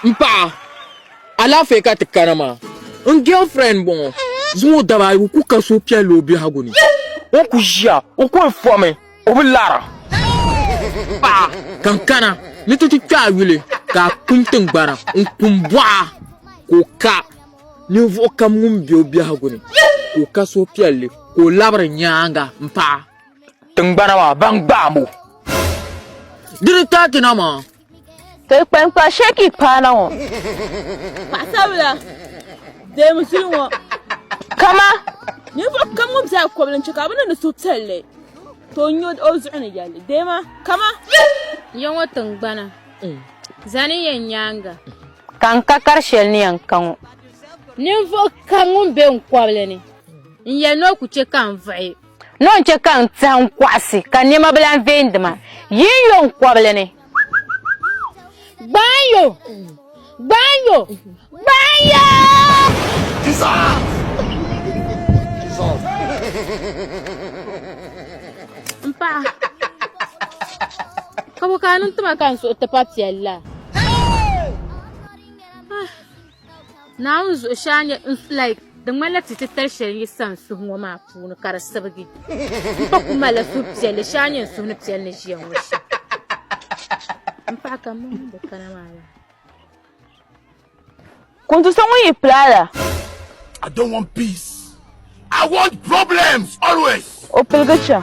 M paɣa alaafee ka ti kana maa n girlfriend bɔŋɔ zuŋ o daba ayi ku ka suhupiɛlli o biɛhigu ni o ku ʒiya o ku fɔmi o bi lara paɣa ka n kana ni ti ti kpe a yuli ka a kum tingbana n kum bɔɣa ka o ka ninvuɣ kam ŋun be o biɛhigu ni ka o ka suhupiɛlli ka o labiri nyaaŋa m paɣa tingbana maa ban gbaam o di ni taati na maa Ti kpankpa sheki paana ŋɔ. Paɣasabila deemi zuli ŋɔ. Kama. Ninvuɣu kam ŋun biɛha kɔbili n-chɛ ka bɛ niŋdi suhupiɛlli ka o nyo o zuɣu ni yɛli deema kama. Ya ŋɔ tiŋgbana zani yɛn nyaaŋa. Ka n ka kari shɛli ni yɛn ka ŋɔ. Ninvuɣu kam ŋun be n kɔbili ni n yɛli ni o ku chɛ ka n vuɣi. Nɔ n-chɛ ka n tɛhi n kɔɣisi, ka nɛma bi lan vee n-di ma. Yi n yo n kɔbili ni. Gbaai yo! Gbaai yo! Gbaai yo! M paɣa, ka bɔ ka a niŋ ti ma ka n suhu ti pa piɛlli la? Naawuni zuɣushɛa nyɛ n like di ŋmanila ti titali shɛli n yi sa n suhu ŋɔ maa puuni ka di sibigi n pa ku malila suhupiɛlli shɛa nyɛ n suhu ni piɛli ni ʒiya ŋɔ shɛm m paɣa ka m mini bi kana maa la Kuntu so ŋun yi pilaala I don't want peace. I want problems always. o piligi chaŋ.